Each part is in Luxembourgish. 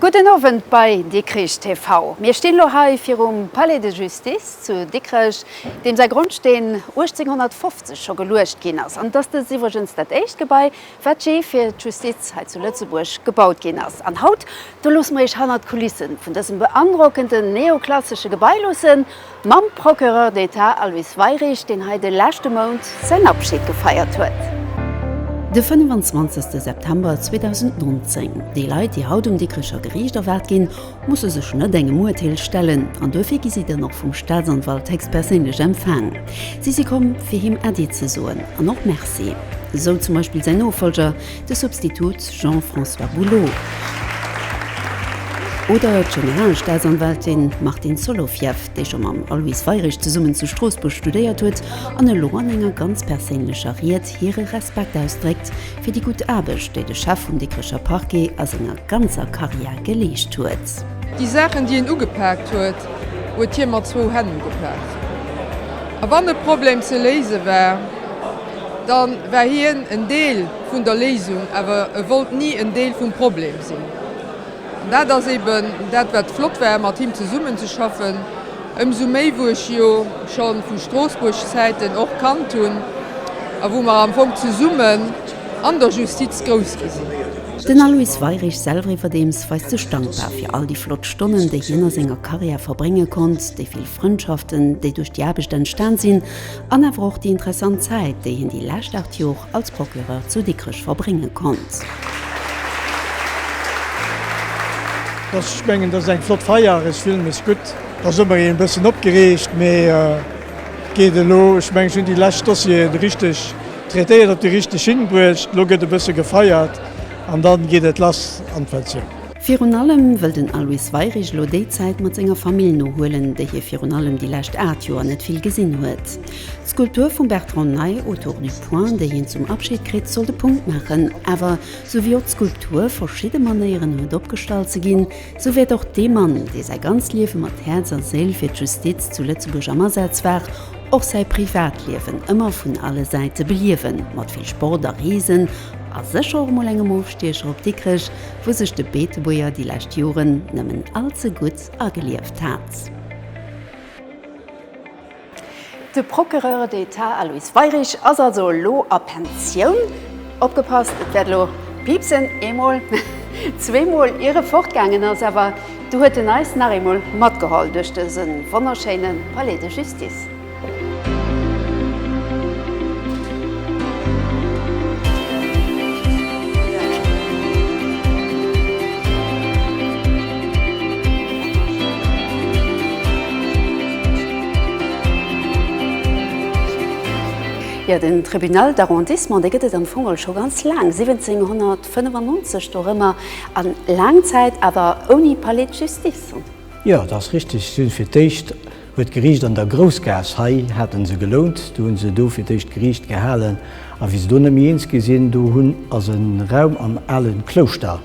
Gudden Owend bei Dikrich TV. Mir stinn elo hei virum Palais de Justice zu Dikrech, deem säi Grondsteen 1850 scho geluecht ginn ass. An et ass dëst iwwregens dat éischt Gebai, wat jee fir d'Justiz hei zu Lëtzebuerg gebaut ginn ass. An haut, do loosse mer Iech hannert d'Kulisse vun dësem beandrockenden neoklassesche Gebai loosse mam Procureur d'Etat Aloyse Weirich, deen hei de leschte Mount säin Abschid gefeiert huet. De 25. September 2019, déi Leit, déi haut um Dikrecher Geriicht erwaart ginn, musse sech net engem Urteel stellen an duerfir gi si dann och vum Staatsanwalt héchstperséinlech empfaang. Si si komm, fir him Äddi ze soen an och Merci, esou zum Beispill säin Nofollger, de Substitut Jean-François Boulot oder d'Generalstaatsanwältin Martine Solowjew, déi scho mam Aloyse Weirich zesummen zu Stroossbuerg studéiert huet an elo an enger ganz perséinlecher Ried hire Respekt ausdréckt fir déi gutt Aarbecht, déi de Chef vum Dikrecher Parquet a senger ganzer Karriär geleescht huet. Déi Saachen, déi en ugepaakt huet, huet hie mat zwou Hänn ugepaakt. A wann e Problem ze léise war, da war hien en Deel vun der Léisung, awer e wollt ni en Deel vum Problem sinn. Dat ass eben dat, wat flott war, mat him zesummenzeschaffen, ëmsou méi wou ech jo scho vu Stroossbuerg-Zäiten och kannt hunn a wou mer am Fong zesummen an der Justiz grouss gi sinn. Den Aloyse Weirich selweriwwerdeems weist sech dankbar fir all déi flott Stonnen, déi hien a senger Karriär verbrénge konnt, déi vill Frëndschaften, déi duerch déi Aarbecht entstan sinn, An awer och déi interessant Zäit, déi hien déi lescht 8 Jor als Procureur zu Dikrech verbrénge konnt. Dass ech mengen dass eng flott Feier ass, fillen mech gutt. Ass ëmmer een bëssen opgereegt, mee et geet elo. Ech mengen ech hunn déi lescht Dossieren richteg traitéiert, op déi richteg hinbruecht. Elo gëtt e bësse gefeiert an dann geet et lass an d'Pensioun. Virun allem wëll den Aloyse Weirich elo déi Zäit mat senger Famill nohuelen, déi hie virun allem déi lescht 8 Joer net vill gesinn huet. D'Skulptur vum Bertrand Ney, Autour du point, déi hien zum Abschid kritt, soll de Punkt maachen. Awer sou wéi och d'Skulptur verschidde Manéieren huet opgestallt ze ginn, sou wäert och dee Mann, dee säi ganzt Liewe mat Häerz a Séil fir d'Justiz zu Lëtzebuerg am Asaz war, och säi Privatliewen ëmmer vun alle Säite beliewen, mat vill Sport a Reesen a sécher och mol engem Ofstiecher op Dikrech, wou sech de Beetebuerger déi lescht Joren nëmmen all ze gutt agelieft hat. De Procureur d'Etat Aloyse Weirich ass also elo a Pensioun. Opgepasst, et wäert elo piipsen, eemol, zweemol, ier e fortgaangen ass. Awer du huet en eis nach eemol matgeholl duerch dëse wonnerschéine Palais de Justice. Jo, den Tribunal d'arrondissement, dee gëtt et am Fong al scho ganz laang, 1795 dorëmmer, a laang Zäit awer ouni Palais d'justice. Jo, dat ass richteg. Si hunn fir d'éischt Huet d'Geriicht an der Groussgaass, hei haten se gelount, do hunn se do fir d'éischt Geriicht gehalen, a wéi se do net méi eens gi sinn, do hunn ass e Raum am ale Klouschter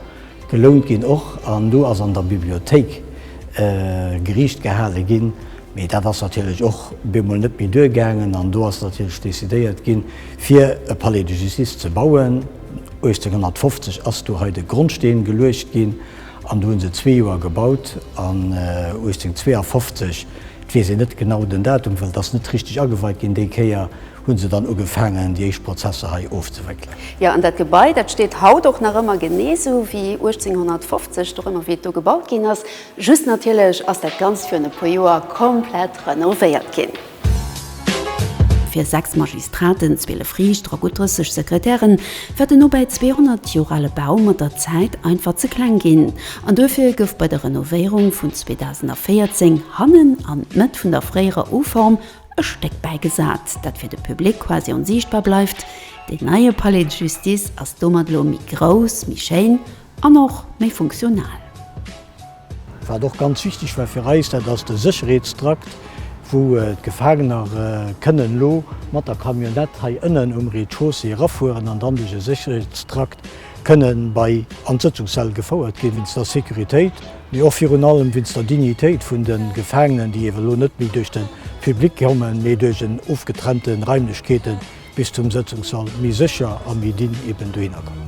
gelount ginn och, an do ass an der Bibliothéik Geriicht gehale ginn, mee dat ass natierlech och bemol net méi duer gaangen, an do ass natierlech decidéiert ginn, fir e Palais de Justice ze bauen. 1850 ass do hei de Grondsteen geluecht ginn. An do hu se zwee Joer gebaut an 1852, et weess een net genau den Datum, well et ass net richteg ageweit ginn déi Kéier, hu se dann ugefaangen déi éischt Prozesser hei ofzewéckelen. Jo, an dat Gebai, dat steet haut och nach ëmmer genee esou wéi 1850, och ëmmer wéi et do gebaut ginn ass, just natierlech ass dat Ganzt virun e puer Joer komplett renovéiert ginn. Fir 6 Magistraten, 12 Riichter a gutt 30 Sekretären war den no bäi 200 Joer ale Bau mat der Zäit einfach ze kleng ginn an duerfir gouf bei der Renovéierung vun 2014 hannen an d'Mëtt vun der fréierer U-Form e Stéck bäigesat, dat fir de Public quasi onsiichtbar bleift. Deen neie Palais de Justice ass domat elo méi grouss, méi schéin an och méi funktional. Wat och ganz wichteg war fir eis, dat ass de Sécherheetstrakt, wou d'Gefaangener kënnen elo mat der Camionnette hei ënnen um Rez-de-chaussée erafueren an dann duerch e Sécherheetstrakt kënne bei an d'Sëtzungssall gefouert ginn, wéinst der Sécuritéit, mee och virun allem wéinst der Dignitéit vun de Gefaangenen, déi elo net méi duerch de Public kommen, mee duerch en ofgetrennte Raimlechkeeten. bis zum Sëtzungssall méi sécher a méi dinn eben dohinner kommen.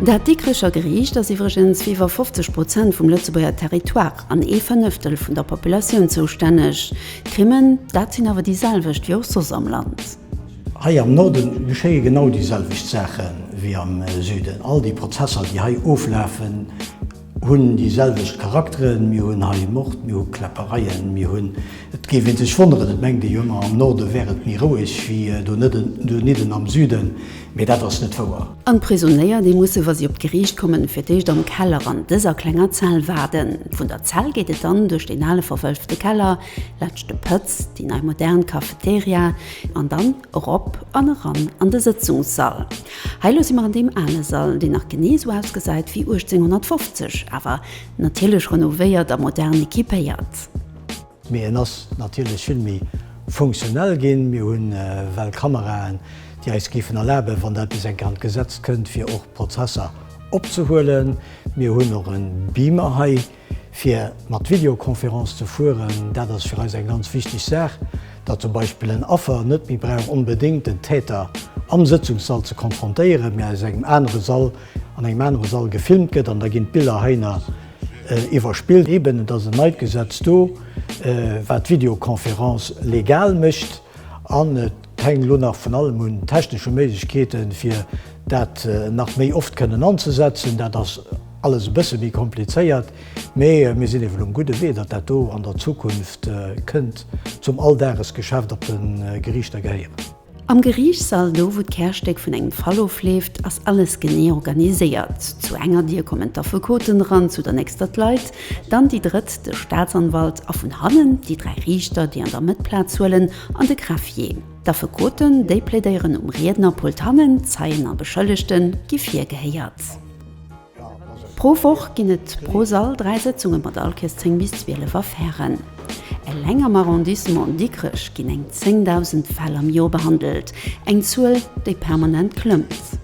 Dat Dikricher Geriicht ass iwwregens fir iwwer 50 Prozent vum Lëtzebuerger Territoire an ee Fënnëftel vun der Populatioun zoustänneg. D'Krimmen, dat sinn awer déi selwecht wéi och soss am Land. Hei am Norde geschéie genau déi selwecht Saache wéi am Süden. All déi Prozesser, déi hei oflafen, hunn déi selwecht Charakteren. Mir hunn hei Mord, mir hu Kläppereien, mir hunn, et géif ee sech wonneren, et mengt ee jo ëmmer am Norde wär et méi roueg wéi donidden am Süden, mee dat ass net wouer. An d'Prisonéier, déi musse wa si op d'Geriicht kommen, fir d'éischt am Keller an dëser klenger Zell waarden. Vun der Zell geet et dann duerch deen ale verwëlfte Keller, Leschte Pëtz, déi nei modern Cafeteria an dann erop an eran an de Sëtzungssall. Hei lo si mer an deem ale Sall, deen nach genee esou ausgesäit wéi 1850, awer natierlech renovéiert a modern equipéiert. Mee en ass natierlech vill méi funktionell ginn. Mir hunn well Kameraen, déi eis géifen erlaben, wann dat bis eng Kéier an d'Gesetz kënnt, fir och Prozesser opzehuelen. Mir hunn och e Beamer hei. Fir mat Videoconférence ze fueren, dat ass fir eis eng ganz wichteg Saach, datt zum Beispill en Affer net méi brauch onbedéngt den Täter am Sëtzungssall ze konfrontéieren, mä aus engem anere Sall, an engem anere Sall gefilmt gëtt, an da ginn d'Biller heiner iwwerspillt. Eben, et ass en neit Gesetz do, wat d'Videoconférence legal mécht, an et. Et hänkt elo nach vun allem un technesche Méiglechkeeten, fir dat nach méi oft kënnen anzesetzen. Dat ass alles e bësse méi komplizéiert, mee mir sinn ewell um gudde Wee, datt dat do an der Zukunft kënnt zum Alldagesgeschäft op de Geriichter gehéieren. Am Geriichtssall, do wou d'Kärstéck vun engem Fall ofleeft, ass alles genee organiséiert. Zu enger Dier kommen d'Affekoten eran, zu der nächster d'Leit, dann déi drëtt de Staatsanwalt a vun hannen déi dräi Riichter, déi an der Mëtt Plaz huelen An de Greffier. D'Affekoten, déi plädéieren um Riednerpult hannen, Zeien a Beschëllegte gi virgehéiert. Pro Woch ginn et pro Sall dräi Sëtzunge mat allkes 10 bis 12 Affären. Eleng am Arrondissement Dikrech ginn eng 10.000 Fäll am Joer behandelt, eng Zuel, déi permanent klëmmt.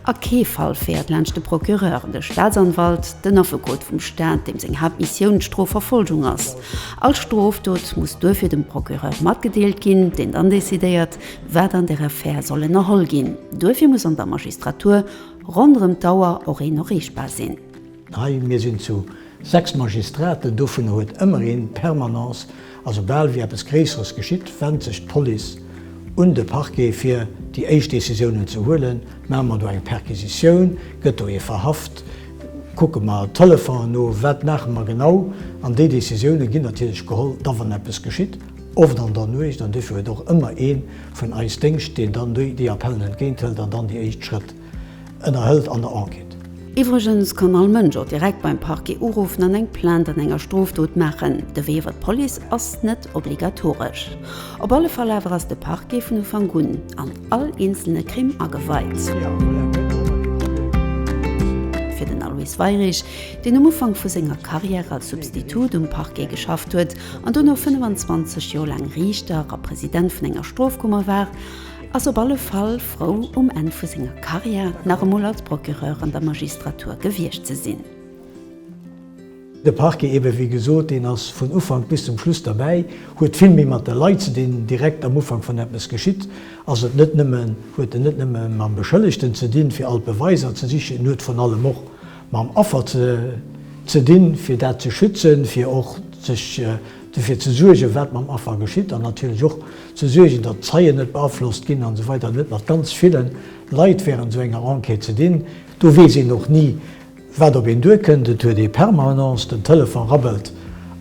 A kee Fall féiert laanscht de Procureur, de Staatsanwalt, den Affekot vum Staat, deem seng Haaptmissioun d'Strofverfolgung ass. All Strofdot muss duerfir dem Procureur matgedeelt ginn, deen dann decidéiert, wat an der Affär soll ënnerholl ginn. Duerfir muss an der Magistratur ronderëm d'Auer och een noreechbar sinn. Hei, mir sinn zu sechs Magistraten, dovunner huet ëmmer een d'Permanence, a soubal wéi eppes Gréisseres geschitt, wennt sech d'Police un de Parquet fir déi éischt Décisiounen ze huelen. Maache mer do eng Perquisitioun, gëtt do ee verhaft, kucke mer Telefonen no, wat maache mer genau? An déi Décisiounen ginn natierlech geholl da wann eppes geschitt, oft an der Nuecht, an dofir huet och ëmmer ee vun eis Déngscht, deen dann déi Appellen entgéinthëlt an dann déi éischt Schrëtt. ënnerhëlt an der Enquête. Iwwregens kann all Mënsch och direkt beim Parquet uruffen an eng Plainte an enger Strofdot maachen. De Wee iwwer d'Police ass net obligatoresch. Op alle Fall awer ass de Parquet vun Ufank un an all eenzelne Crime ageweit. Fir den Aloyse Weirich, deen um Ufank vu senger Carrière als Substitut um Parquet geschafft huet an dono 25 Joer laang Riichter a President vun enger Strofkummer war, ass op alle Fall frou um Enn vu senger Carrière nach emol als Procureur an der Magistratur gewiescht ze sinn. De Parquet eben, wéi gesot, deen ass vun Ufank bis zum Schluss derbäi, huet vill méi mat de Leit ze dinn. Direkt am Ufank wann eppes geschitt, ass et net nëmmen, huet en net nëmme mam Beschëllegten ze dinn fir all d'Beweiser ze sichen, en huet vrun allem och mam Affer ze dinn fir dat ze schützen, fir och sech dofir ze suergen wat mam Affer geschitt an natierlech och ze suergen, datt d'Zeien net beaflosst ginn an esou weider, net mat ganz ville Leit während esou enger Enquête ze dinn. Do weess een och ni, wat op een duerkënnt. Et huet ee Permanence den Telefon rabbelt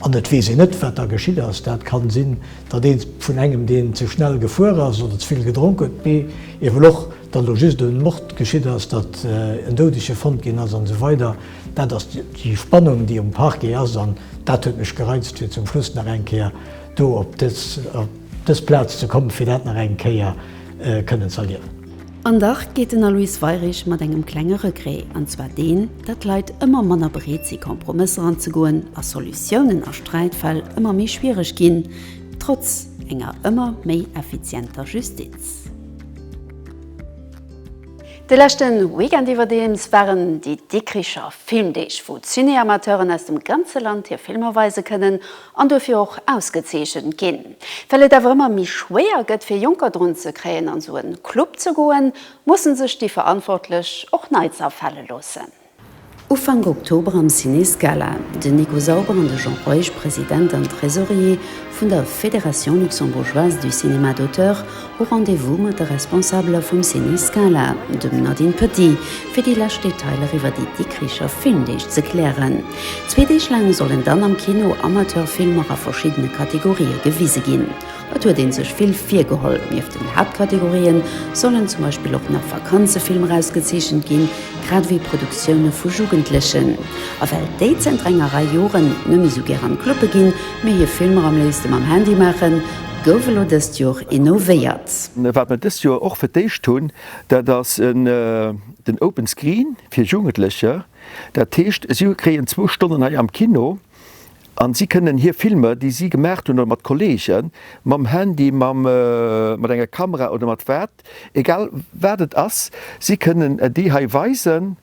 an et weess een net, wat da geschitt ass. Dat ka sinn, datt ee vun engem, deen ze schnell gefuer ass oder ze vill gedronk huet, mee ewell och, datt elo just e Mord geschitt ass, datt en Doudege fonnt ginn ass an esou weider. Dat ass déi Spannung, déi um Parquet ass an dat huet mech gereizt, fir zum Schluss nach eng Kéier do op dës Plaz ze kommen, fir dat nach eng Kéier kënnen ze erliewen. An dach geet den Aloyse Weirich mat engem klenge Regret, an zwar deen, dat d'Leit ëmmer manner bereet si Kompromësser anzegoen a Solutiounen a Sträitfäll ëmmer méi schwiereg ginn, trotz enger ëmmer méi effizienter Justiz. De leschte Weekend iwwerdeems waren déi Dikricher Filmdeeg, wou d'Cinéamateuren aus dem ganze Land hir Filmer weise kënnen. an dofir och ausgezeechent ginn, well et awer ëmmer méi schwéier gëtt fir Jonker drun ze kréien an sou en Club ze goen, mussen sech déi Verantwortlech och Neits afale loossen. Ufank Oktober am Ciné Scala, den Nico Sauber an de Jean Reusch, President an Tresorier vun der Fédération Luxembourgeoise du Cinéma d'Auteur, Hu Rendez-vous mat de Responsabeler vum Ciné Scala, dem Nadine Petit, fir déi lescht Detailer iwwer déi Dikricher Filmdeeg ze klären. Zwee Deeg laang sollen dann am Kino Amateurfilmer a verschiddene Kategorië gewise ginn. Et huet ee sech vill virgeholl. Nieft den Haaptkategorië sollen zum Beispill och nach Vakanzefilmer erausgezeechent ginn, grad ewéi Produktioune vu Jugendlechen. A well déi zënter enger Rei Joren net méi esou gär an d'Club'e ginn, mee hir Filmer am léifste mam Handy maachen, Gouf elo dëst Joer innovéiert. Wat mer dëst Joer och fir d'éischt hunn, dat ass den Open Screen fir Jugendlecher. Dat heescht, si kréien zwou Stonnen hei am Kino an si kënnen hir Filmer, déi si gemaach hunn, oder mat Kolleegen, mam Handy, mat enger Kamera oder mat wat, egal wat et ass, si kënnen déi hei weisen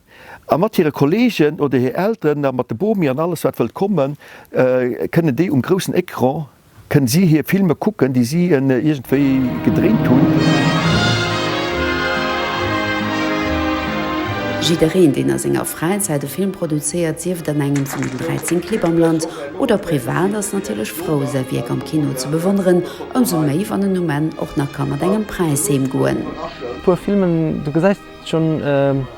a mat hire Kolleegen oder hir Elteren a mat de Bomi an alles, wat wëllt kommen, kënnen déi um groussen Ecran Kënn si hir Filme kucken, déi si iergendwéi gedréint hunn? Jiddereen, deen a senger Fräizäit e Film produzéiert, sief et an engem vun den 13 Clibb am Land oder privat, ass natierlech frou, säi Wierk am Kino ze bewonneren, ëmsou méi, wann en um Enn och nach ka mat engem Präis heemgoen. Puer Filmen, du gesäis. Schon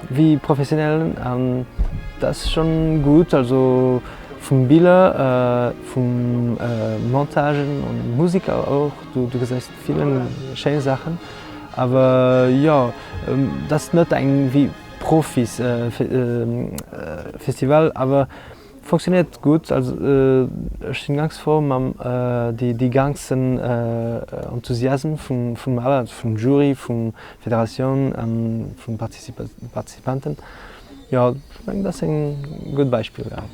wéi professionell an das schon gudd also vum biller vum montagen an musik och du du gesäis villen schéin sachen awer jo das net eng wéi profis festival awer Fonctionnéiert gutt, also ech sinn ganz frou mam déi ganzen Enthusiasm vum Awer vum Jury, vum Federatioun an vun de Participanten. Jo ech mengen dat ass eng gutt Beispill war.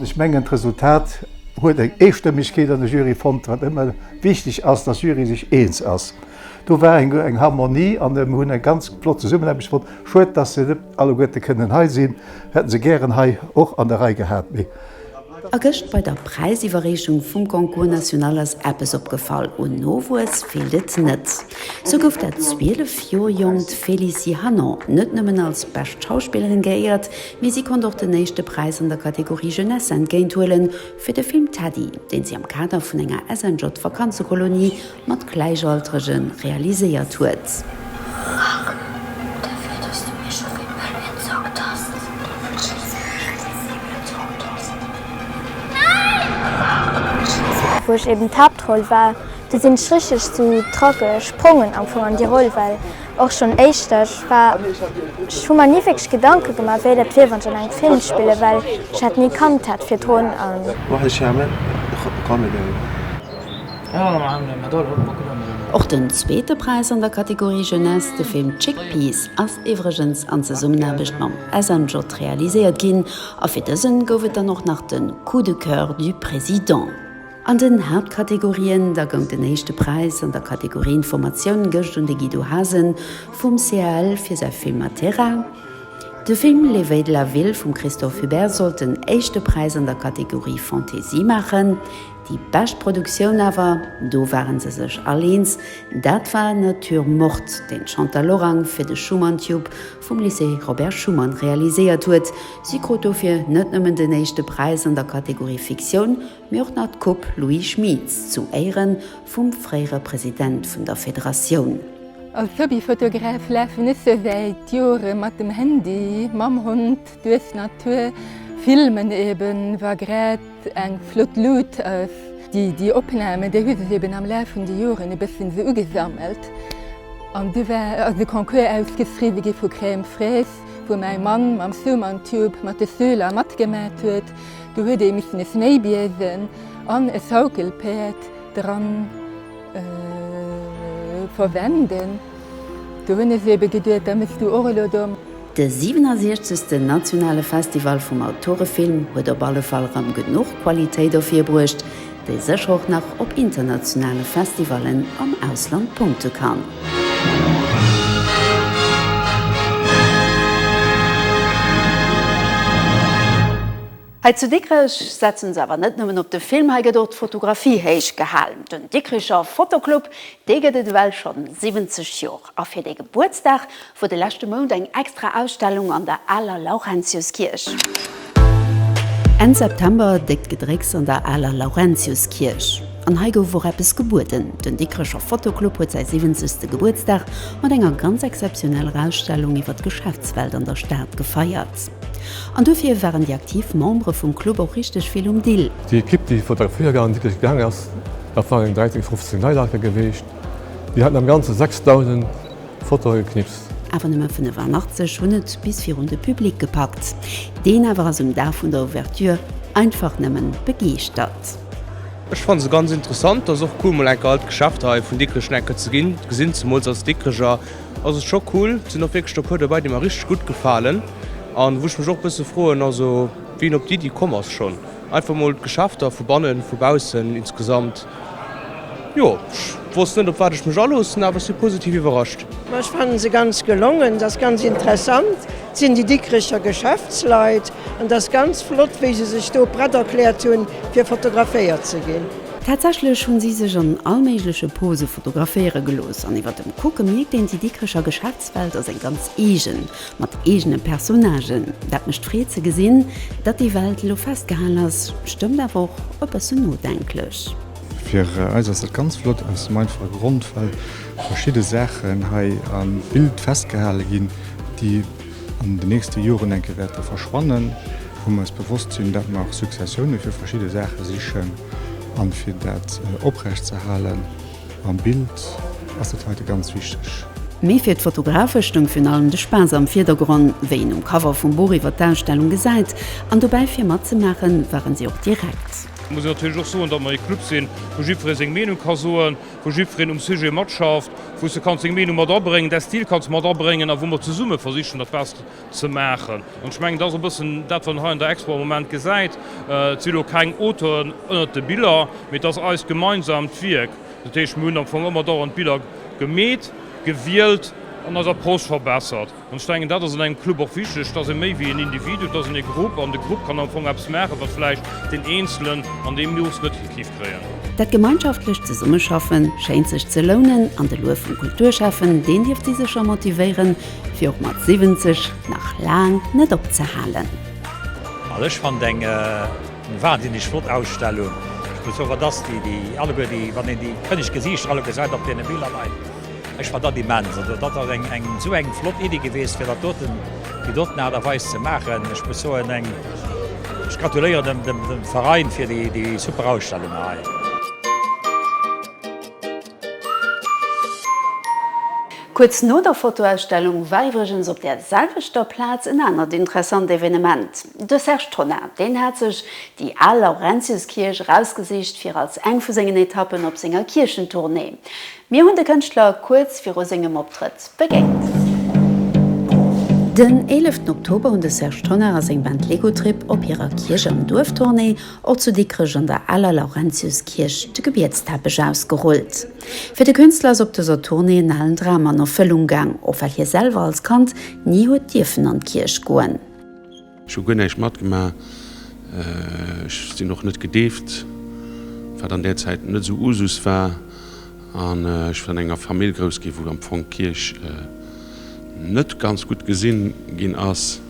Ech mengen d'Resultat huet eng Eestëmmegkeet an der Jury fonnt, wat ëmmer wichteg ass, dass Jury sech eens ass. Do war eng Harmonie an mir hunn eng ganz flott Zesummenaarbecht fonnt. Schued, dass se net alleguerte kënnen hei sinn, hätte se gären hei och an der Rei gehat. Mee. A gëscht bei der Präisiwwerreechung vum Concours national ass eppes opgefall, Un Nowuess feelt et net. Sou gouf dat 12 Joer jonkt Félicie Hanon net nëmmen als bescht Schauspillerin geéiert, mee si konnt och den éischte Präis an der Kategorie Jeunesse entgéint huelen, fir de Film Teddy, deen si am Kader vun enger SNJ-Vakanzekolonie mat Gläichaltrege realiséiert huet. Wou ech eben d'Haaptroll war, do sinn ech richteg zu Tracke sprongen am Fong an déi Roll, well och schonn éischter ech war, ech hu mer ni wierklech Gedanke gemaach, wéi dat wier, wann ech an engem Film spillen, well ech hat ni kannt hat virdrun. Och den zweete Präis an der Kategorie Jeunesse, de Film Chickpeas, ass iwwregens an Zesummenaarbecht mam SNJ realiséiert ginn a fir dësen gouf et dann och nach de Coup de coeur du président. An den Haaptkategorien da goung den éischte Präis an der Kategorie Informatioun gëscht un de Guido Hasen vum CAL fir säi Film Matera. De Film Les Veilles de la Ville vum Christophe Hubert sollt den éischte Präis an der Kategorie Fantaisie maachen. Déi bescht Produktioun awer, do ware se sech all eens, dat war Nature morte, deen d'Chantal Lorang fir de Schuman Tube vum Lycée Robert Schuman realiséiert huet. Si krut dofir net nëmmen den éischte Präis an der Kategorie Fiktioun, mee och nach d'Coupe Louis Schmits zu Éiere vum fréiere President vun der Federatioun. Als Hobbyfotograf lafen ech sou wäit Jore mat dem Handy, mam Hond, Duerf Natur filmen eben war grad eng flott Luut ass. Déi Opnamen, déi hu sech eben am Laf vun de Joren e bëssen esou ugesammelt an du war ass e Concours ausgeschriwwe gi vu Crème Fraise, wou mäi Mann mam Suman Tube mat de Schüler matgemat huet. Do huet ee missen e Schnéibiesen an e Schaukelpäerd dran. Verwenden. Do hunn ech se ebe geduet, da méchs du och elo domm. De 67. Nationale Festival vum Autorefilm huet op alle Fall rëm genuch Qualitéit ervirbruecht, déi sécher och nach op internationale Festivallen am Ausland punkte kann. Hei zu Dikrech setzen se awer net nëmmen op de Film, hei gëtt och d'Fotografie héich gehalen. Den Dikricher Fotoclub, dee gëtt et ewell schonn 70 Jor a fir dee Gebuertsdag wor de leschte Mount eng extra Ausstellung an der Aler Laurentiuskierch. Enn September déckt Gedrécks an der Aler Laurentiuskierch an hei gouf och eppes gebueden. Den Dikricher Fotoclub huet säi 70. Gebuertsdag mat enger ganz exzeptioneller Ausstellung iwwer d'Geschäftswelt an der Stad gefeiert. An dofir waren déi aktiv Membere vum Club och richteg vill um Dill. Déi Ekipp, déi vun der Feiergarn Dikrech gaang ass, dat waren 13, 15 Leit alker geweecht. Déi haten am Ganze 6.000 Fotoe geknipst. Awer nëmme 85 hunn et bis virun de Public gepackt. Deen awer ass um Dag vun der Ouverture einfach nëmme begeeschtert. Ech fanne se ganz interessant. Ass och cool mol enker all d'Geschäfter hei vun Dikrech enker ze gesinn, zemools als Dikrecher. ass et scho cool. Et sinn och wierklech der puer dobäi, déi mer richteg gutt gefalen an wou ech mech och e bësse froen, also wéi en op déi Iddi komm ass, schonn einfach mol d'Geschäfter vu bannen, vu baussen insgesamt. Jo, ech wosst net, op wat ech mech aloossen, awer ech si positiv iwwerrascht. Ma ech fannen se ganz gelongen. Et ass ganz interessant. Et sinn déi Dikricher Geschäftsleit an et ass ganz flott, wéi se sech do prett erkläert hunn, fir fotograféiert ze ginn. Tatsächlech hunn si sech an all méigleche Pose fotograféiere gelooss, an iwwer dem Kucke mierkt een, déi Dikrecher Geschäftswelt ass eng ganz eegen, mat eegene Personnagen. Dat mécht Freed ze gesinn, datt déi Welt elo festgehal ass, stëmmt awer och e bëssen nodenklech. Fir eis ass dat ganz flott, aus dem einfache Grond, well verschidde Saachen hei am Bild festgehale ginn, déi an de nächste Joren enke wäerte verschwannen, wou mer eis bewosst sinn, datt mer Successioune fir verschidde Saache sichen a fir dat oprecht ze halen am Bild, ass dat heite ganz wichteg. Mee fir d'Fotografe stoung virun allem de Spaass am Virdergronn, wéi een um Cover vum Buch iwwer d'Ausstellung gesäit, an dobäi fir matzemaachen, waren si och direkt. Muss een natierlech och soen, datt mer ee Club sinn, wou jiddweree seng Meenung ka soen. wou jiddwereen um Sujet matschafft, wou s de kanns deng Meenung mat abréngen, däi Stil kanns mat abréngen a wou mer zesumme versichen, etwas ze maachen. An ech mengen, dat ass e bëssen dat, wat een hei an der Expo am Moment gesäit. Et si lo keng Auteuren ënnert de Biller, mee et ass eist gemeinsaamt Wierk. Dat heescht, mir hunn am Fong ëmmer dauernd Biller gemeet, gewielt an eis Approche verbessert. An ech denken, dat ass an engem Club och wichteg, dass ee méi wéi en Individu, et ass en e Grupp an de Grupp kann am Fong eppes maachen, wat vläicht deen Eenzelen an deem Nuuchs net hikiff kréien. Dat gemeinschaftlecht Zesummeschaffen schéint sech ze lounen an de Luef vum Kulturschäffen, deen dierft si sécher motivéieren, fir och mat 70 nach laang net opzehalen. Also ech fand eng wahnsinneg flott Ausstellung. Ech muss soen, wat ass déi alleguer déi, wann een déi kënneg Gesiichter alleguer seit op deene Biller hei. Ech fannen dat immens. Also dat ass eng esou eng flott Iddi geweest fir dat doten, déi doten Aart a Weis ze maachen. Ech muss soen, eng, ech gratuléieren dem Verein fir déi super Ausstellung hei. Kuerz no der Fotoausstellung war iwwregens op där selwechter Plaz en anert interessant Evenement. De Serge Tonnar, deen hat sech déi al Laurentiuskierch erausgesicht fir als eng vu sengen Etappen op senger Kierchentournée. Mir hunn de Kënschtler kuerz viru sengem Optrëtt begéint. Den 11 Oktober hunn de Serge Tonnar a seng Band Lego Trip op hirer Kierch an Duerf-Tournée och zu Dikrech an der aler Laurentius-Kierch de Gebietsteppech ausgerullt. Fir de Künstler ass op dëser Tournée en alen Dram an Erfëllung gaang, och well hie selwer als Kand ni huet dierfen an d'Kierch goen. Ech hu guer näischt matgemaach, ech sinn och net gedeeft, wat an där Zäit net esou Usus war, an ech sinn an enger Famill grouss ginn, wou am Fong d'Kierch net ganz gutt gesi ginn ass.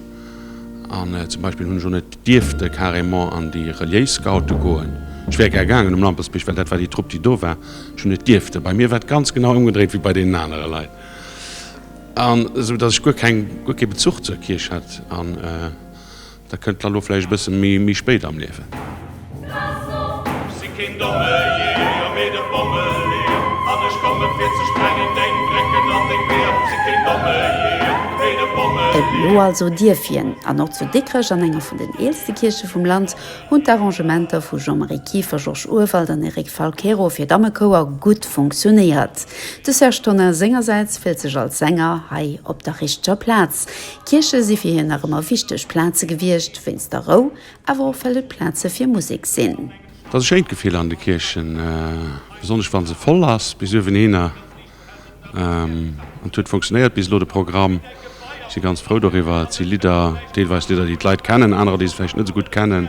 An zum Beispill hunn ech och net dierfte carrément an déi reliéis Scoute goen. Ech wär gär gaangen um Lampersbierg, well dat war déi Trupp, déi do war. Ech hunn net dierfte. Bei mir war et ganz genau ëmgedréit wéi bei deenen anere Leit. An esou dass ech guer keng, guer kee Bezuch zur Kierch hat. An da kënnt d'Lalo vläicht e bësse méi, méi spéit am Liewen. Ech si keen domme Jeeër, mee de Bommeleeër. An ech kommen, fir ze sprengen deng Brécken an deng Weeër. Ech si keen domme Jeeër, mee de Bommeleeër. Elo also dierf hien. An och zu Dikrech, an enger vun den eelste Kierche vum Land, hunn d'Arrangementer vu Jean-Marie Kieffer, Georges Urwald an Eric Falquero fir Dammekouer gutt funktionéiert. De Serge Tonnar sengersäits fillt sech als Sänger hei op der richteger Plaz. Kierche si fir hien nach ëmmer wichteg Plaze gewiescht, wéinst der Rou, awer och well et Plaze fir Musek sinn. Et ass e schéint Gefill an de Kierchen, besonnesch wa se voll ass bis uewenhinner. An et huet funktionéiert bis elo, de Programm. Ech si ganz frou doriwwer. Et si Lidder, deelweis Lidder, déi d'Leit kennen, anerer, déi se vläicht net esou gutt kennen.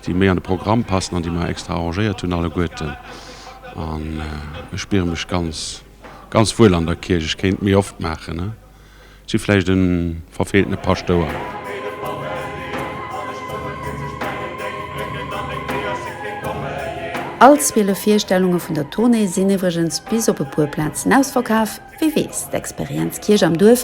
déi méi an de Programm passen an déi mer extra arrangéiert hunn alleguerten an ech spiere mech ganz, ganz wuel an der Kierch. Ech kéint méi oft maachen, ech si vläicht e verfeeltene Paschtouer. All 12 Virstellunge vun der Tournée sinn iwwregens bis op e puer Plazen ausverkaf, wie weess, d'Experienz Kierch am Duerf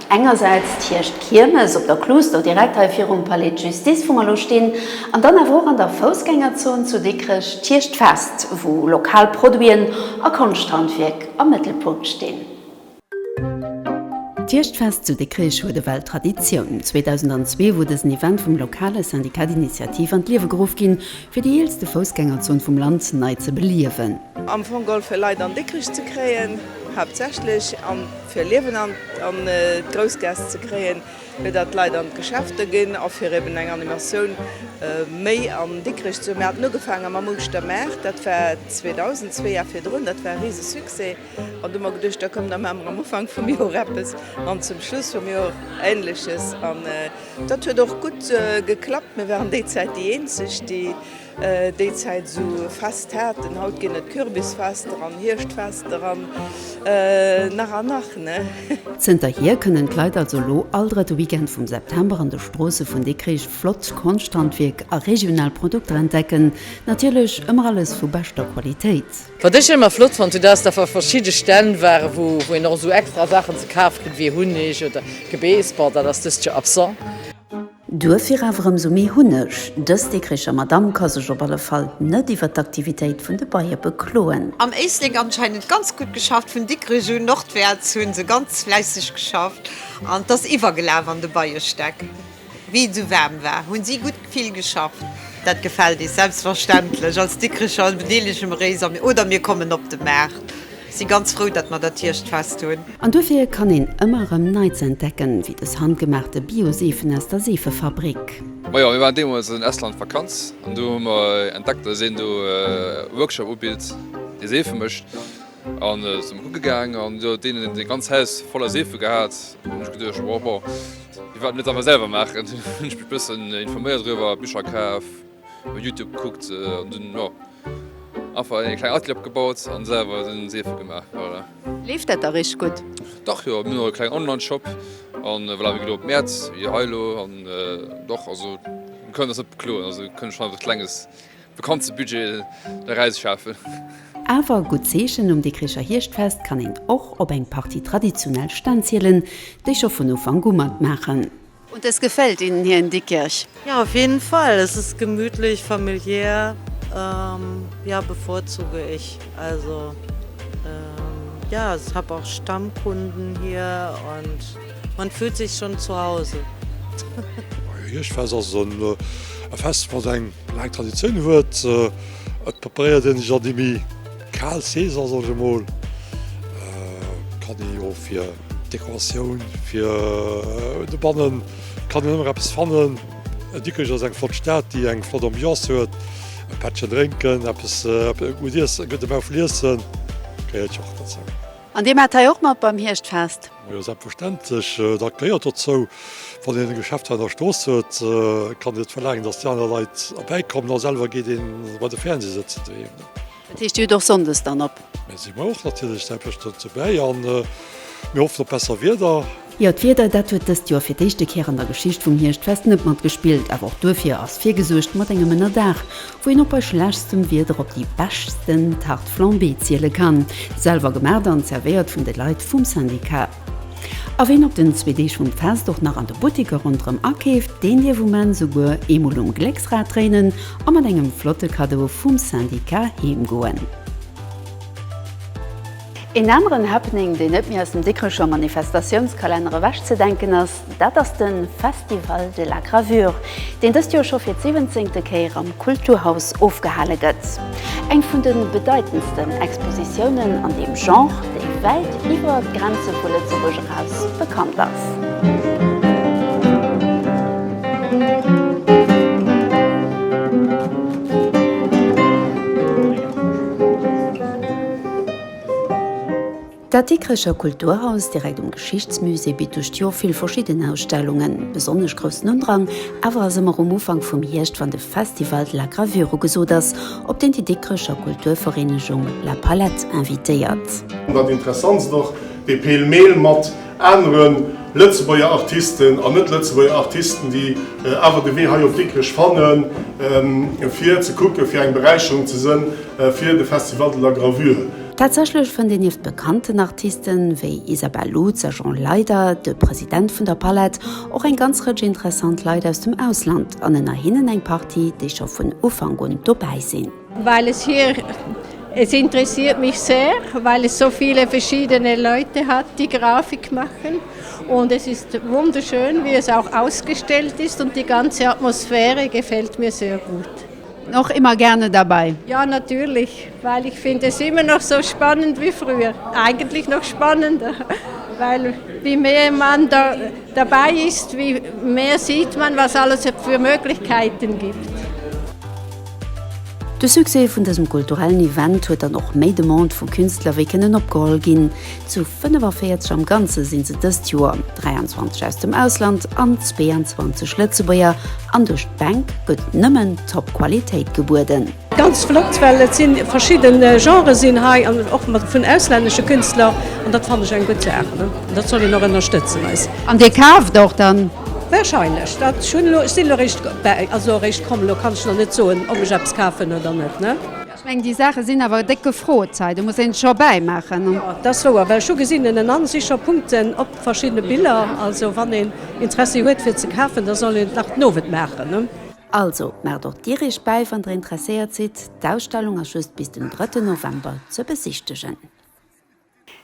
Engersäits d'Hierscht Kiermes op der Kluuster, direkt hei virum Palais de Justice wou mer elo stinn, an dann awer och an der Foussgängerzon zu Dikrech d'Hierscht Fest wou lokal Produiten a Konschthandwierk am Mëttelpunkt stinn. D'Hierscht Fest zu Dikrech huet ewell Traditioun. 2002 wor dësen Event vum lokale Syndicat d'Initiative an d'Liewe geruff ginn fir déi eelste Foussgängerzon vum Land nei ze beliewen. Am Fong Golfe Leit an Dikrech ze kréien, haaptsächlech. fir Liewen an d'Groussgaass ze kréien, fir datt d'Leit an d'Geschäfte ginn a fir eben eng Animatioun méi an Dikrech ze hunn. Mir haten ugefaange mam Uelzechter Maart, dat war 2002 a virdrun, dat war e rise Succès an du hu mer geduecht, da komm da maache mer am Ufank vum Joer eppes an zum Schluss vum Joer Ähnleches an dat huet och gutt geklappt. Mir waren déi Zäit déi eenzeg, déi Déi Zäit esou Fest haten. Haut ginn et Kürbisfester an Hierschtfester an nach an nach, ne? Zënterhier kënnen d'Leit also elo all drëtte Weekend vum September an de Stroosse vun Dikrich flott Konschthandwierk a regional Produkter entdecken. Natierlech ëmmer alles vu beschter Qualitéit. Wat ech ëmmer flott fonnt hunn, dat ass, datt wa verschidde Stänn waren, wou een och esou extra Saachen ze kaf kritt, wéi Hunneg oder Gebeesbotter, dat ass dëst Joer absent. Duerfir awer ëmsou méi Hunneg, Dës Dikricher Madamm ka sech op alle Fall net iwwert d'Aktivitéit vun de Beie bekloen. Am Éislek anscheinend ganz gutt geschafft vun Dikrech un nordwärts hunn se ganz fläisseg geschafft an t'ass iwwergelaf an de Beiestäck wéi et sou waarm war hunn si gutt vill geschafft. Dat gefällt ees selbstverständlech als Dikricher bedeelege mer éis oder mir kommen op de Maart. Si ganz frou dat mer dat Hierschtfest hunn. An duerfir kann een ëmmer erëm Neits entdecken, wéi dës handgemaachte Bio-Seefen aus der Seefefabrik. Majo, mir waren deemols an Estland Vakanz an do hu mer entdeckt dass een do e Workshop ubilt dee Seefe mécht an sinn mer kucke gaang an do huet een e ganzt Haus voller Seefe gehat an hunn ech geduecht wow, wierwaat mir dat awer selwer maachen, hunn ech mech bëssen informéiert doriwwer, Bicher kaf. Op Youtube gekuckt an dunn jo einfach eng kleng Atelier opgebaut an selwer den Seefe gemaach, voilà. Leeft dat da richteg gutt? Dach jo, mir hunn och e klengen Online Shop an voilà wéi gedoe op Mäerz wéi hei elo an dach also mir kënnen eis net bekloen, also kënnen schonn einfach e klenges Vakanzebudget deraus schafen. Awer e gutt Zeechen, um Dikricher Hierschtfest kann een och op eng Partie traditionell Stänn zielen, déi scho vun Ufank u matmaachen. Und es gefällt Ihnen hier in Diekirch? Ja, auf jeden Fall. Es ist gemütlich, familiär. Ähm, ja, bevorzuge ich. Also, ähm, ja, ich habe auch Stammkunden hier und man fühlt sich schon zu Hause. Hirschfest ass en Fest, wat eng laang Traditioun huet. Et preparéiert ee sech an déi méi. Kal Saison soll ech emol, kann ee jo fir Dekoratioun fir dobannen kann een ëmmer eppes fannen. Dikrech ass eng flott Stad, déi eng flott Ambiance huet. E Pättchen drénken, eppes gutt iessen, e gudde Mau vun Iessen gehéiert jo och dozou. An Dir maat hei och mat beim Hierschtfest? Majo selbstverständlech, dat gehéiert dozou. Wann een e Geschäft hei an der Strooss huet, kann een net verlaangen, dass déi aner Leit erbäi kommen a selwer geet een bei de Fernseh sëtzen doheem. Dat heescht, Dir hutt och sonndes dann op? Mir si och natierlech selbstverständlech dobäi a mir hoffen op besser Wieder. Jo, d'Wieder, dat huet dëst Joer fir d'éischte Kéier an der Geschicht vum Hierschtfest net matgespillt. Awer och duerfir ass virgesuergt mat engem Ënnerdaach. wou een och bei schlechstem Wieder op déi beschten Tarte flambée ziele kann, selwer gemaacht an zervéiert vun de Leit vum Syndicat. A ween op den zwee Deeg vum Fest och nach an de Buttiker ronderëm akeeft, deen dierf um Enn souguer eemol um Glécksrad dréinen a mat engem flotte Cadeau vum Syndicat heem goen. Een aneren Happening, deen net méi aus dem Dikrecher Manifestatiounskalenner ewech ze denken ass, Dat ass de Festival de la Gravure, deen dëst Joer scho fir d'siwwenzéngte Kéier am Kulturhaus ofgehale gëtt. Eng vun de bedeitendsten Expositiounen an deem Genre, déi wäit iwwer d'Grenze vu Lëtzebuerg eraus bekannt ass. Dat Dikrecher Kulturhaus, direkt um Geschichtsmusée, bitt duerch d'Joer vill verschidden Ausstellungen. Besonnesch groussen Undrang awer ass ëmmer um Ufank vum Hierscht, wann de Festival de la Gravure ugesot ass, op deen déi Dikrecher Kulturvereenegung La Palette invitéiert. Dat Interessantst och, dee Pêle-mêle mat anere Lëtzebuerger Artisten an Net-Lëtzebuerger Artisten, déi awer de Wee hei op Dikrech fannen, fir ze kucken, fir eng Beräicherung ze sënn fir de Festival de la Gravure. Tatsächlech fënnt een nieft bekannten Artiste wéi Isabelle Lutz a Jean Leider, de President vun der Palette, och eng ganz Rëtsch interessant Leit aus dem Ausland an ënner hinnen eng Partie, déi scho vun Ufank un dobäi sinn. Well es hier, es interessiert mich sehr, weil es so viele verschiedene Leute hat, die Grafik machen, und es ist wunderschön, wie es auch ausgestellt ist, und die ganze Atmosphäre gefällt mir sehr gut. Och immer gerne dabei. Ja natürlich, well ech finn des immer nach sou spannend wéi früher, eigentlich nach spannender, well wéi méer man da derbäi ist, wéi méer sieht man was alles et für Möglichkeiten gibt. De Succès vun dësem kulturellen Event huet dann och méi Demande vu Künstler wéi kënnen opgeholl ginn. Zu 45 am Ganze sinn se dëst Joer, 23 aus dem Ausland an 22 Lëtzebuerger, an duerch d'Bänk gëtt nëmmen top Qualitéit gebueden. Ganz flott, well et sinn verschidden Genren sinn hei an och mat vun auslännesche Künstler an dat fannen ech eng gutt Saach ne, an dat soll een och ënnerstëtzen eis. An Dir kaaft och dann? Wahrscheinlech, dat ech hunn elo, ech sinn elo eréischt bäi, also eréischt komm, elo kann ech nach net soen ob ech eppes kafen oder net ne. Ech mengen déi Saache sinn awer déck gefrot hei. Do muss een d'Show bäi maachen. Jo, dat ass wouer, well ech hu gesinn en an si scho Punkten op verschiddene Biller. Also wann een Interessi huet fir ze kafen, da soll een et nach den Owend maachen. Also maacht och Dir Iech bäi, wann Der interesséiert sidd. D'Ausstellung ass just bis den drëtten November ze besichtegen.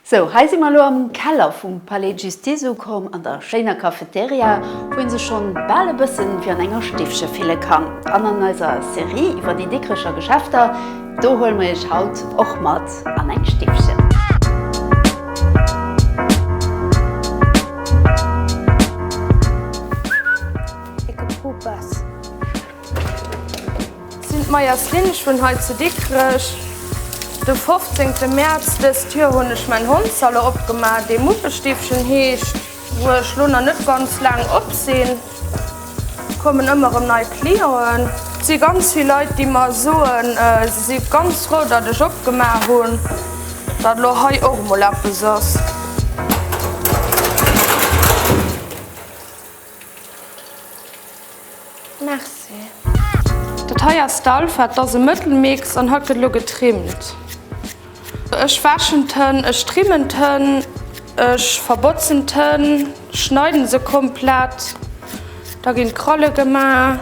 Sou, hei si mer elo am Keller vum Palais de Justice ukomm, an der schéiner Cafeteria, wou ee sech schonn bal e bëssen wéi an enger Stiffche fille kann. An an eiser Serie iwwer déi Dikrecher Geschäfter, do huele mer iech haut och mat an eng Stiffche. Ecke Popas. Sinn d'Meyers Lynn, ech wunn hei zu Dikrech. De fofzéngte Mäerz dëst Joer hunn ech mäin Hondsalo opgemaach, dee Muppestiffchen heescht. Wou ech lo nach net ganz laang op sinn, kommen ëmmer erëm nei Clienten. Et si ganz vill Leit, déi mer soen, se si ganz frou, datt ech opgemaach hunn, datt lo hei och emol eppes ass. Merci. Dat hei ass d'Alpha, et ass e Mëttelmix an hatt gëtt elo getrimmt. Ech wäschen d'Hënn, ech trimmen d'Hënn, ech verbotzen d'Hënn, schneiden se komplett, da ginn d'Kralle gemaach.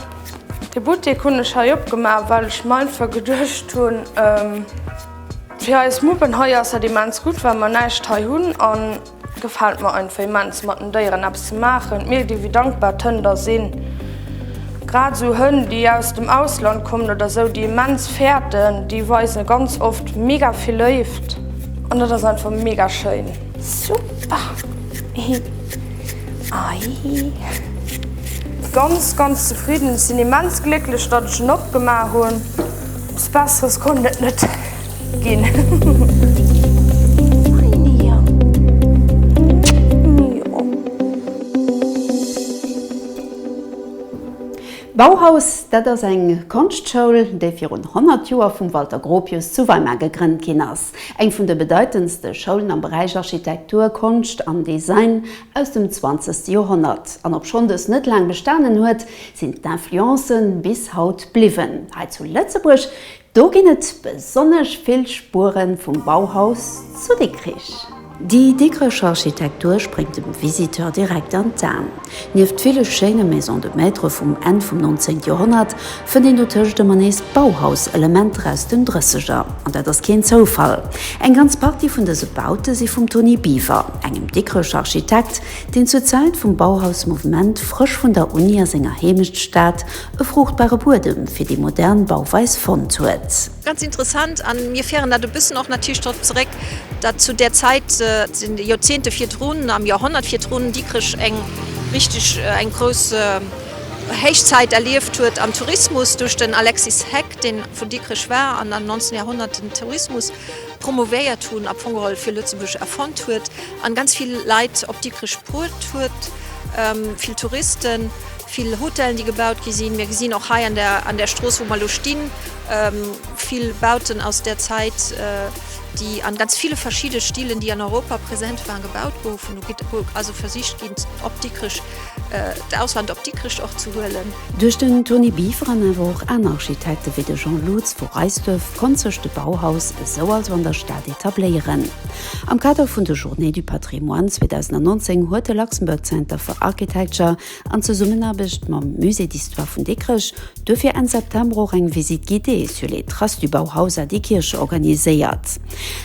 De Buttek hunn ech hei opgemaach, well ech mer einfach geduecht hunn, fir eis Muppen hei ass dat immens gutt, well mer näischt hei hunn. Gefällt mer einfach immens mat den Déieren eppes ze maachen. D'Mier gi wéi dankbar d'Hënn da sinn. Grad esou Hënn déi aus dem Ausland kommen oder esou déi immens fäerten, déi weisen ganz oft mega vill Léift an dat ass einfach mega schéin. Super hi aii. Ganz ganz zefridden, sinn immens glécklech datt ech en opgemaach hunn. Eppes besseres konnt et net. Bauhaus, dat ass eng Konschtschoul, déi virun 100 Joer vum Walter Gropius zu Weimar gegrënnt ginn ass. Eng vun de bedeitendste Schoulen am Beräich Architektur, Konscht an Design aus dem 20. Joerhonnert. An obschonn dës net laang bestanen huet, sinn d'Influencen bis haut bliwwen. Hei zu Lëtzebuerg Do ginn et besonnesch vill Spure vum Bauhaus zu Dikrich. Déi Dikricher Architektur spréngt dem Visiteur direkt an d'Aen. Nieft ville schéine Maison de maître vum Enn vum 19 Joerhonnert, fënnt een dotëscht ëmmer nees Bauhaus-Elementer aus den Drësseger. An dat ass keen Zoufall. Eng ganz Partie vun dëse Baute si vum Toni Biwer, engem Dikricher Architekt, deen zur Zäit vum Bauhaus-Mouvement frësch vun der Uni a senger Heemechtsstad, E fruchtbare Buedem fir déi modern Bauweis fonnt huet. Ganz interessant, an mir féieren dat e bëssen och natierlech drop zeréck, dat zu där Zäit, dat sinn déi Joerzéngte virdrun, am Joerhonnert virdrun, Dikrech eng richteg, eng grouss Héichzäit erlieft huet am Tourismus duerch den Alexis Heck, deen vun Dikrech war an am 19 Joerhonnert den Tourismus promouvéiert hunn, am Fong geholl fir Lëtzebuerg erfonnt huet an ganz vill Leit op Dikrech bruet huet, vill Touristen. Vill Hotellen, déi gebaut gi sinn. Mir gesinn och hei an där Strooss, wou mer elo stinn, vill Bauten aus där Zäit, déi a ganz ville verschidde Stilen, déi an Europa present waren, gebaut goufen. Do gëtt also versicht ginn, op Dikrech, d'Ausland op Dikrech och ze huelen. Duerch den Toni Beaveren, awer och aner Architekte wéi de Jean Loots vu Reisduerf, konnt sech de Bauhaus esou also an der Stad etabléieren. Am Kader vun de Journées du patrimoine 2019 huet de Luxembourg Center for Architecture an Zesummenaarbecht mam Musée d'histoire vun Dikrech duerfir Enn September och eng Visite guidée sur les traces du Bauhaus à Dikkirch organiséiert.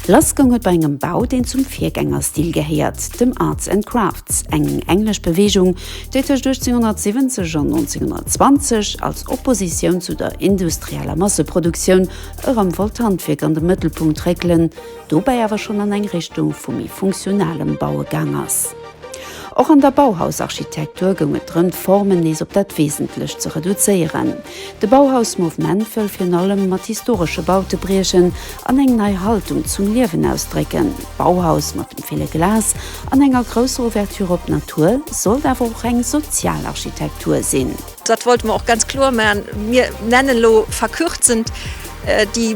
Lassgoung huet bei engem Bau, deen zum Virgängerstil gehéiert, dem Arts and Crafts, eng englesch Beweegung, déi tëscht 1870 an 1920 als Oppositioun zu der industrieller Masseproduktioun erëm wollt d'Handwierk an de Mëttelpunkt réckelen, dobäi awer schonn an eng Richtung vu méi funktionalem Baue gaang ass. Och an der Bauhaus-Architektur goung et drëm, d'Formen nees op dat Wesentlecht ze reduzéieren. De Bauhaus-Mouvement wëll virun allem mat historesche Baute briechen an eng nei Haltung zum Liewen ausdrécken. D'Bauhaus mat dem ville Glas an enger grousser Ouverture op d'Natur sollt awer och eng sozial Architektur sinn. Dat wollte mer och ganz kloer maachen. Mir nennen elo verkürzend déi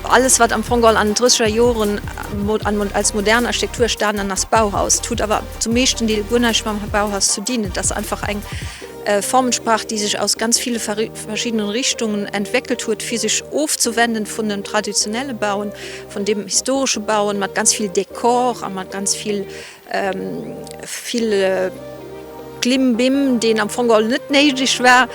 alles, wat am Fong all an den drësseger Joren als modern Architektur estanen ass, Bauhaus. Et huet awer zum meeschten Deel guer näischt mam Bauhaus ze dinn. Et ass einfach eng Formensprach, déi sech aus ganz ville verschiddenen Richtungen entwéckelt huet, fir sech ofzewenden vun dem traditionelle Bauen, vun deem historesche Bauen mat ganz vill Dekor a mat ganz vill Vill Klimbim, deen am Fong all net néideg war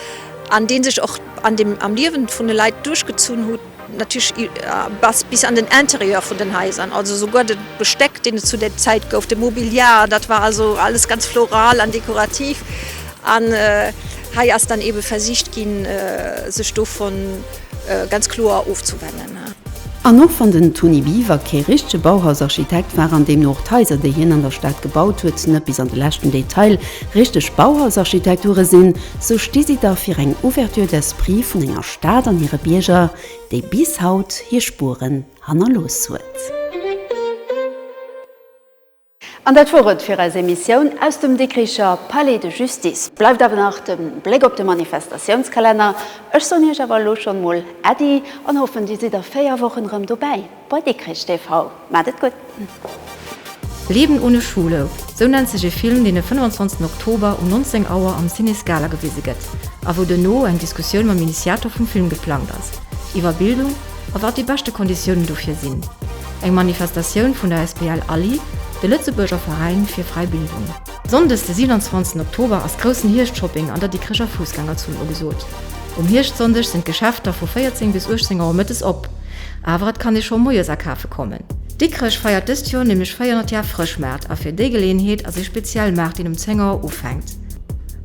an dee sech och an dem am Liewen vun de Leit duerchgezunn hutt, natierlech bis an den Intérieur vun den Haiser. Also souguer de Besteck, deen et zu där Zäit gouf, de Mobiliar, dat war also alles ganz floral an dekorativ. An hei ass dann eebe versicht ginn, sech dovun Prinzip ganz kloer ofzewennen. An och wann den Toni Biwer kee richtege Bauhausarchitekt war an deemno och d'Haiser, déi hien an der Stad gebaut huet, net bis an de leschten Detail richteg Bauhausarchitekture sinn, sou sti si dach fir eng Ouverture d'esprit vun enger Stad an hire Bierger, déi bis haut hir Spueren hannerlooss huet. An dat wor et fir eis Emissioun aus dem Dikricher Palais de Justice. Bleift awer nach de Bléck op de Manifestatiounskalenner. Ech soen Iech awer elo schonn mol Äddi an hoffen Dir sidd a 4 Wochen erëm dobäi bei Dikrich TV. Maacht et gutt. Leben ohne Schule, sou nennt sech ee Film, deen e 25 Oktober um 19 Auer am Ciné Scala gewise gëtt a wou duerno eng Diskussioun mam Initiator vum Film geplangt ass iwwer Bildung, a wat déi beschte Konditiounen dofir sinn. Eng Manifestatioun vun der SPL ALLI, de Lëtzebuerger Veräin fir fräi Bildung. Sonndes de 27 Oktober ass groussen Hierscht-Shopping an der Dikricher Fussgängerzon ugesot. Um Hierscht-Sonndeg sinn d'Geschäfter vu 14 bis 18 Auer mëttes op, awer et kann ee scho moies akafe kommen. Dikrech feiert dëst Joer nämlech 400 Jar Frëschmaart a fir déi Geleeënheet ass ee speziell Maart deen um 10 Auer ufänkt.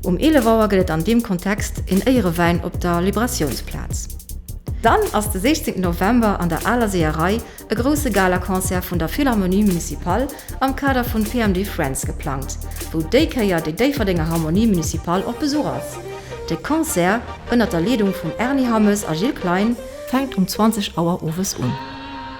Um 11 Auer gëtt et an deem Kontext een Éierewäin op der Liberatiounsplaz. Dann ass de 16 November an der Aler Seeërei e grousse Galaconcert vun der Philharmonie Municipale am Kader vun PMD Friends geplangt, wou déi Kéier déi Déifferdenger Harmonie Municipale op Besuch ass. De Concert, ënnert der Leedung vum Erny Hammes a Gilles Klein, fänkt um 20 Auer owes un.